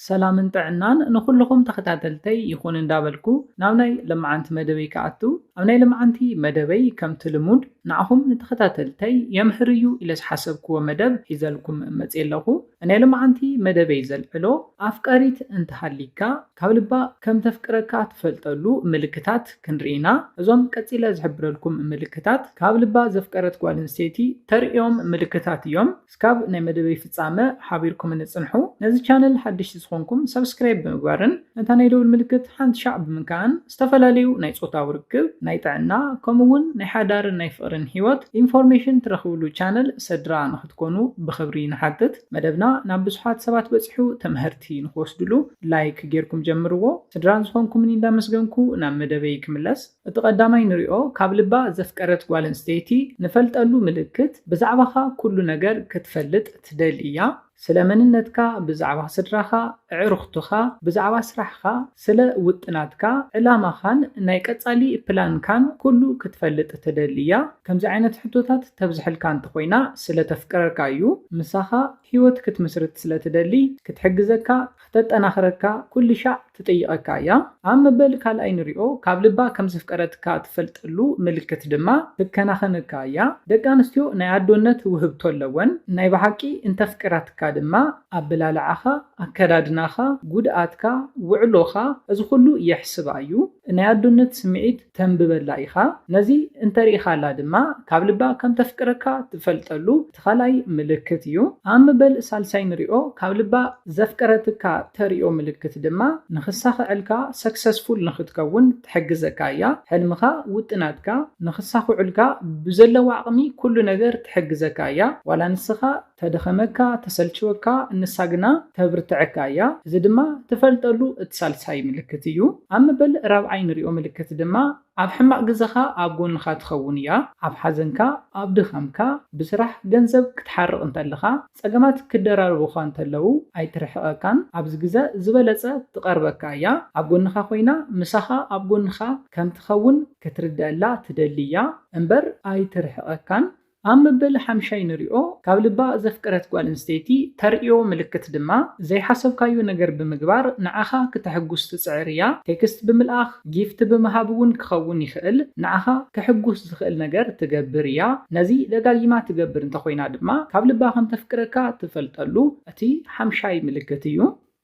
ሰላምን ጥዕናን ንኹሉኹም ተኸታተልተይ ይኹን እንዳበልኩ ናብ ናይ ለማዓንቲ መደበይ ክኣቱ ኣብ ናይ ለማዓንቲ መደበይ ከምቲ ልሙድ ንዓኹም ንተኸታተልተይ የምህር እዩ ኢለ ዝሓሰብክዎ መደብ ሒዘልኩም መጽየ ኣለኹ ናይ ለማዓንቲ መደበይ ዘልዕሎ ኣፍቃሪት እንተሃሊካ ካብ ልባ ከምተፍቅረካ ትፈልጠሉ ምልክታት ክንርኢ ኢና እዞም ቀጺለ ዝሕብረልኩም ምልክታት ካብ ልባ ዘፍቀረት ጓል ኣንስተይቲ ተርእዮም ምልክታት እዮም እስካብ ናይ መደበይ ፍጻመ ሓቢርኩምኒ ጽንሑ። ነዚ ቻነል ሓደሽቲ ዝኾንኩም ሳብስክራይብ ብምግባርን ነታ ናይ ደውል ምልክት ሓንቲ ሻዕ ብምንካእን ዝተፈላለዩ ናይ ጾታዊ ርክብ፣ ናይ ጥዕና ከምኡ ውን ናይ ሓዳርን ናይ ፍቕርን ሂወት ኢንፎርሜሽን ትረኽብሉ ቻነል ሰድራ ንኽትኮኑ ብኽብሪ ንሓትት። መደብና ናብ ብዙሓት ሰባት በጺሑ ተመሀርቲ ንኽወስድሉ ላይክ ጌርኩም ጀምርዎ። ስድራ ዝኾንኩምኒ እንዳመስገንኩ ናብ መደበይ ክምለስ። እቲ ቀዳማይ ንሪኦ ካብ ልባ ዘፍቀረት ጓል ኣንስተይቲ ንፈልጠሉ ምልክት ብዛዕባኻ ኩሉ ነገር ክትፈልጥ ትደሊ እያ። ስለ መንነትካ፣ ብዛዕባ ስድራኻ፣ ኣዕሩኽትኻ፣ ብዛዕባ ስራሕኻ፣ ስለ ውጥናትካ፣ ዕላማኻን ናይ ቀጻሊ ፕላንካን ኩሉ ክትፈልጥ ትደሊ እያ። ከምዚ ዓይነት ሕቶታት ተብዝሐልካ እንተኾይና ስለ ተፍቅረካ እዩ። ምሳኻ ህይወት ክትምስርት ስለ ትደሊ ክትሕግዘካ ክተጠናኽረካ ኩልሻዕ ትጥይቐካ እያ። ኣብ መበል ካልኣይ ንሪኦ ካብ ልባ ከም ዘፍቀረትካ ትፈልጠሉ ምልክት ድማ ትከናኸነካ እያ። ደቂ ኣንስትዮ ናይ ኣዶነት ውህብቶ ኣለወን። ናይ ብሓቂ እንተፍቂራትካ ድማ ኣበላልዓኻ፣ ኣከዳድናኻ፣ ጉድኣትካ፣ ውዕሎኻ እዚ ኩሉ የሕስባ እዩ። ናይ ኣዶነት ስምዒት ተንብበላ ኢኻ፣ ነዚ እንተ ርኢኻላ ድማ ካብ ልባ ከም ተፍቅረካ ትፈልጠሉ እቲ ካልኣይ ምልክት እዩ። ኣብ መበል ሳልሳይ ንሪኦ ካብ ልባ ዘፍቀረትካ ተርእዮ ምልክት ድማ ንክሳኸዐልካ ሰክሰስፉል ንክትከውን ትሕግዘካ እያ ሕልምኻ ውጥናትካ ንክሳኹዑልካ ብዘለዋ ዓቕሚ ኩሉ ነገር ትሕግዘካ እያ ዋላ ንስኻ ተድኸመካ ተሰልችወካ ንሳ ግና ተብርትዐካ እያ እዚ ድማ ትፈልጠሉ እቲ ሳልሳይ ምልክት እዩ ኣብ መበል ራብዓይ ንሪኦ ምልክት ድማ ኣብ ሕማቅ ግዘኻ ኣብ ጎንኻ ትኸውን እያ ኣብ ሓዘንካ ኣብ ድኻምካ ብስራሕ ገንዘብ ክትሓርቅ እንተለኻ ፀገማት ክደራረቡኻ እንተለው ኣይትርሕቀካን ኣብዚ ግዘ ዝበለፀ ትቀርበካ እያ ኣብ ጎንኻ ኮይና ምሳኻ ኣብ ጎንኻ ከምትኸውን ክትርደኣላ ትደሊ እያ እምበር ኣይትርሕቀካን ኣብ መበል ሓምሻይ ንሪኦ ካብ ልባ ዘፍቀረት ጓል ኣንስተይቲ ተርእዮ ምልክት ድማ ዘይሓሰብካዮ ነገር ብምግባር ንዓኻ ክተሕጉስ ትጽዕር እያ። ቴክስት ብምልኣኽ፣ ጊፍት ብምሃብ እውን ክኸውን ይኽእል ንዓኻ ከሕጉስ ዝኽእል ነገር ትገብር እያ። ነዚ ደጋጊማ ትገብር እንተኾይና ድማ ካብ ልባ ከምተፍቅረካ ትፈልጠሉ እቲ ሓምሻይ ምልክት እዩ።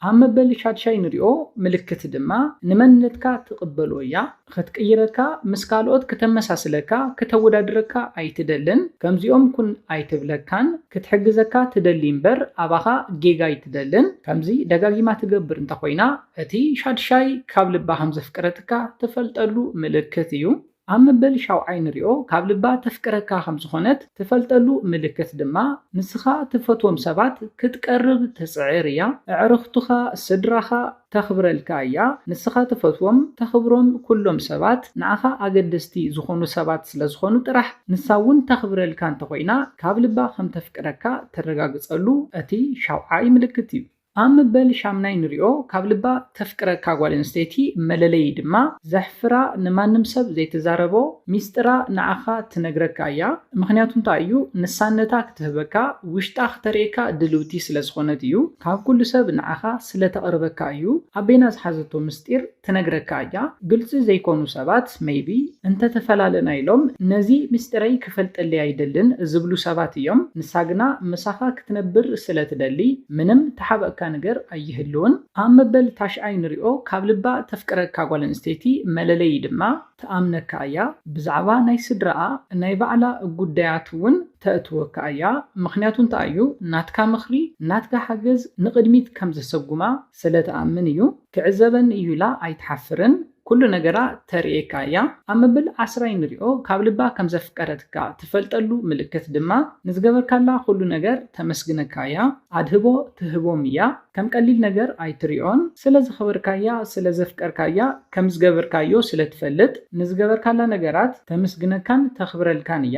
ኣብ መበል ሻድሻይ ንሪኦ ምልክት ድማ ንመንነትካ ትቕበሎ እያ። ኽትቅይረካ፣ ምስ ካልኦት ክተመሳስለካ፣ ክተወዳድረካ ኣይትደልን። ከምዚኦም ኩን ኣይትብለካን። ክትሕግዘካ ትደሊ እምበር ኣባኻ ጌጋ ኣይትደልን። ከምዚ ደጋጊማ ትገብር እንተኾይና እቲ ሻድሻይ ካብ ልባ ከምዘፍቀረትካ ትፈልጠሉ ምልክት እዩ። ኣብ መበል ሻውዓይ ንሪኦ ካብ ልባ ተፍቅረካ ከም ዝኾነት ትፈልጠሉ ምልክት ድማ ንስኻ ትፈትዎም ሰባት ክትቀርብ ትጽዕር እያ እዕርኽቱኻ ስድራኻ ተኽብረልካ እያ ንስኻ ትፈትዎም ተኽብሮም ኩሎም ሰባት ንኣኻ ኣገደስቲ ዝኾኑ ሰባት ስለ ዝኾኑ ጥራሕ ንሳ ውን ተኽብረልካ እንተኾይና ካብ ልባ ከም ተፍቅረካ ተረጋግጸሉ እቲ ሻውዓይ ምልክት እዩ። ኣብ ምበል ሻምናይ ንሪኦ ካብ ልባ ተፍቅረካ ጓል ኣንስተይቲ መለለዪ ድማ ዘሕፍራ ንማንም ሰብ ዘይትዛረቦ ሚስጥራ ንዓኻ ትነግረካ እያ ምኽንያቱ እንታይ እዩ ንሳነታ ክትህበካ ውሽጣ ክተርእየካ ድልውቲ ስለዝኾነት እዩ ካብ ኩሉ ሰብ ንዓኻ ስለተቅርበካ እዩ ኣቤና ዝሓዘቶ ምስጢር ትነግረካ እያ ግልፂ ዘይኮኑ ሰባት maybe እንተተፈላለና ኢሎም ነዚ ምስጢረይ ክፈልጠለይ ኣይደልን ዝብሉ ሰባት እዮም ንሳ ግና ምሳኻ ክትነብር ስለትደሊ ምንም ተሓበእካ ነገር ኣይህልውን ኣብ መበል ታሽዓይ ንሪኦ ካብ ልባ ተፍቅረካ ጓል ኣንስተይቲ መለለዪ ድማ ትኣምነካ እያ ብዛዕባ ናይ ስድራኣ ናይ ባዕላ ጉዳያት እውን ተእትወካ እያ ምኽንያቱ እንታይ እዩ ናትካ ምኽሪ ናትካ ሓገዝ ንቕድሚት ከምዘሰጉማ ስለትኣምን እዩ። ክዕዘበኒ እዩ ኢላ ኣይትሓፍርን ኩሉ ነገራ ተርእየካ እያ ኣብ መበል ዓስራይ ንሪኦ ካብ ልባ ከም ዘፍቀረትካ ትፈልጠሉ ምልክት ድማ ንዝገበርካላ ኩሉ ነገር ተመስግነካ እያ ኣድህቦ ትህቦም እያ ከም ቀሊል ነገር ኣይትሪኦን ስለ ዘኽበርካያ ስለ ዘፍቀርካያ ከም ዝገበርካዮ ስለ ትፈልጥ ንዝገበርካላ ነገራት ተምስግነካን ተኽብረልካን እያ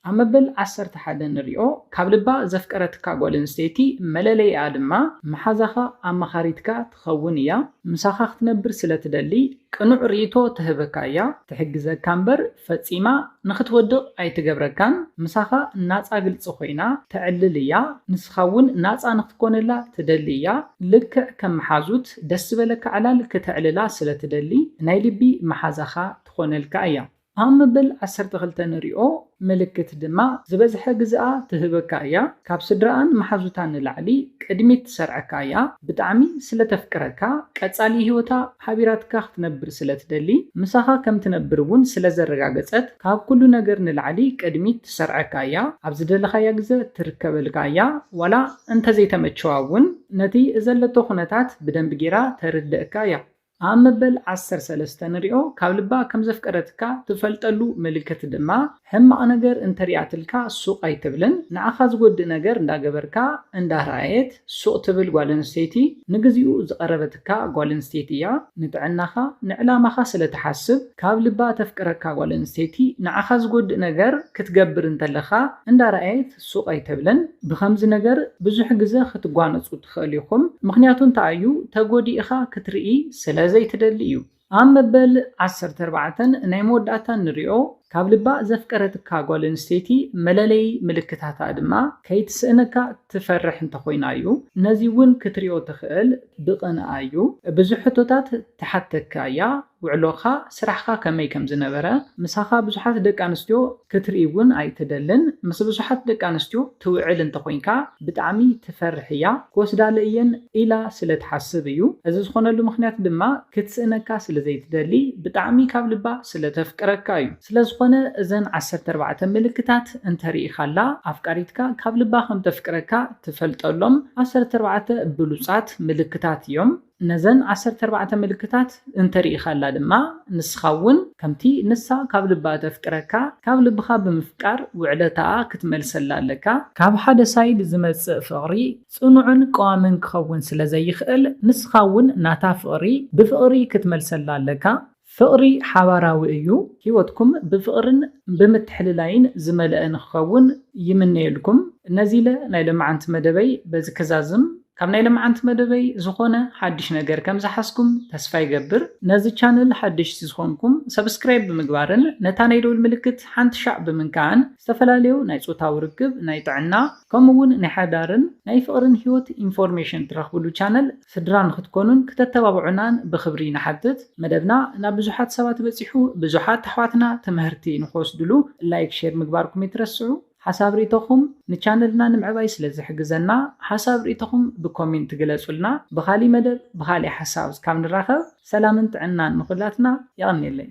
ኣብ መበል ዓሰርተ ሓደ ንሪኦ ካብ ልባ ዘፍቀረትካ ጓል ኣንስተይቲ መለለይኣ ድማ መሓዛኻ ኣማኻሪትካ ትኸውን እያ ምሳኻ ክትነብር ስለ ትደሊ ቅኑዕ ርኢቶ ትህበካ እያ ትሕግዘካ እምበር ፈጺማ ንኽትወድቕ ኣይትገብረካን ምሳኻ ናጻ ግልጺ ኮይና ተዕልል እያ ንስኻ እውን ናጻ ንኽትኮነላ ትደሊ እያ ልክዕ ከም መሓዙት ደስ ዝበለካ ዕላል ክተዕልላ ስለ ትደሊ ናይ ልቢ መሓዛኻ ትኾነልካ እያ። ኣብ መበል ዓሰርተ ክልተ ንሪኦ ምልክት ድማ ዝበዝሐ ግዝኣ ትህበካ እያ ካብ ስድራኣን መሓዙታን ንላዕሊ ቅድሚት ትሰርዐካ እያ ብጣዕሚ ስለ ተፍቅረካ ቀጻሊ ሂወታ ሓቢራትካ ክትነብር ስለ ትደሊ ምሳኻ ከም ትነብር ውን ስለ ዘረጋገጸት ካብ ኩሉ ነገር ንላዕሊ ቅድሚት ትሰርዐካ እያ ኣብ ዝደለኻያ ግዘ ትርከበልካ እያ ዋላ እንተዘይተመቸዋ ውን ነቲ ዘለቶ ኩነታት ብደንቢ ጌራ ተርደእካ እያ ኣብ መበል ዓሰርተ ሰለስተ ንሪኦ ካብ ልባ ከም ዘፍቀረትካ ትፈልጠሉ ምልክት ድማ ሕማቅ ነገር እንተሪኣትልካ ሱቅ ኣይትብልን ንዓካ ዝጎድእ ነገር እንዳገበርካ እንዳረኣየት ሱቅ ትብል ጓል ኣንስተይቲ ንግዚኡ ዝቀረበትካ ጓል ኣንስተይቲ እያ ንጥዕናካ ንዕላማካ ስለ ትሓስብ ካብ ልባ ተፍቅረካ ጓል ኣንስተይቲ ንዓካ ዝጎድእ ነገር ክትገብር እንተለካ እንዳረኣየት ሱቕ ኣይተብለን ብኸምዚ ነገር ብዙሕ ግዘ ክትጓነፁ ትኸእሉ ኢኹም ምኽንያቱ እንታይ እዩ ተጎዲእኻ ክትርኢ ስለ ዘይትደሊ እዩ። ኣብ መበል ዓሰርተ ኣርባዕተ ናይ መወዳእታ እንሪኦ ካብ ልባ ዘፍቀረትካ ጓል ኣንስተይቲ መለለዪ ምልክታታ ድማ ከይትስእነካ ትፈርሕ እንተኾይና እዩ ነዚ እውን ክትሪኦ ትኽእል ብቕንኣ እዩ ብዙሕ ሕቶታት ትሓተካ እያ ውዕሎኻ ስራሕኻ ከመይ ከምዝነበረ ምሳኻ ብዙሓት ደቂ ኣንስትዮ ክትርኢ እውን ኣይትደልን ምስ ብዙሓት ደቂ ኣንስትዮ ትውዕል እንተኾይንካ ብጣዕሚ ትፈርሕ እያ ክወስዳለ እየን ኢላ ስለ ትሓስብ እዩ እዚ ዝኾነሉ ምኽንያት ድማ ክትስእነካ ስለ ዘይትደሊ ብጣዕሚ ካብ ልባ ስለ ተፍቅረካ እዩ ስለዝኾነ እዘን ዓሰርተ ኣርባዕተ ምልክታት እንተሪኢኻላ ኣፍቃሪትካ ካብ ልባ ከም ተፍቅረካ ትፈልጠሎም ዓሰርተ ኣርባዕተ ብሉጻት ምልክታት እዮም። ነዘን ዓሰርተ ኣርባዕተ ምልክታት እንተ ርኢኻላ ድማ፣ ንስኻ እውን ከምቲ ንሳ ካብ ልባ እተፍቅረካ፣ ካብ ልብኻ ብምፍቃር ውዕለታኣ ክትመልሰላ ኣለካ። ካብ ሓደ ሳይድ ዝመጽእ ፍቕሪ ጽኑዕን ቀዋምን ክኸውን ስለ ዘይክእል፣ ንስኻ እውን ናታ ፍቕሪ ብፍቕሪ ክትመልሰላ ኣለካ። ፍቕሪ ሓባራዊ እዩ፣ ህይወትኩም ብፍቕርን ብምትሕልላይን ዝመልአ ንክኸውን ይምነየልኩም። ነዚለ ናይ ለማዓንቲ መደበይ በዚ ክዛዝም፣ ካብ ናይ ለማዓንቲ መደበይ ዝኾነ ሓድሽ ነገር ከም ዝሓዝኩም ተስፋ ይገብር። ነዚ ቻነል ሓደሽቲ ዝኾንኩም ሰብስክራይብ ብምግባርን ነታ ናይ ደውል ምልክት ሓንቲ ሻዕ ብምንካዕን ዝተፈላለዩ ናይ ፆታዊ ርክብ፣ ናይ ጥዕና ከምኡ እውን ናይ ሓዳርን ናይ ፍቕርን ህይወት ኢንፎርሜሽን ትረኽብሉ ቻነል ስድራ ንክትኮኑን ክተተባብዑናን ብክብሪ ንሓትት። መደብና ናብ ብዙሓት ሰባት በጺሑ ብዙሓት ኣሕዋትና ትምሀርቲ ንክወስድሉ ላይክ ሼር ምግባርኩም ኣይትረስዑ። ሓሳብ ሪኢቶኹም ንቻነልና ንምዕባይ ስለ ዝሕግዘና ሓሳብ ሪኢቶኹም ብኮሚንት ግለጹልና። ብኻሊእ መደብ ብኻሊእ ሓሳብ እስካብ ንራኸብ ሰላምን ጥዕናን ንኹላትና። የቐኔለይ።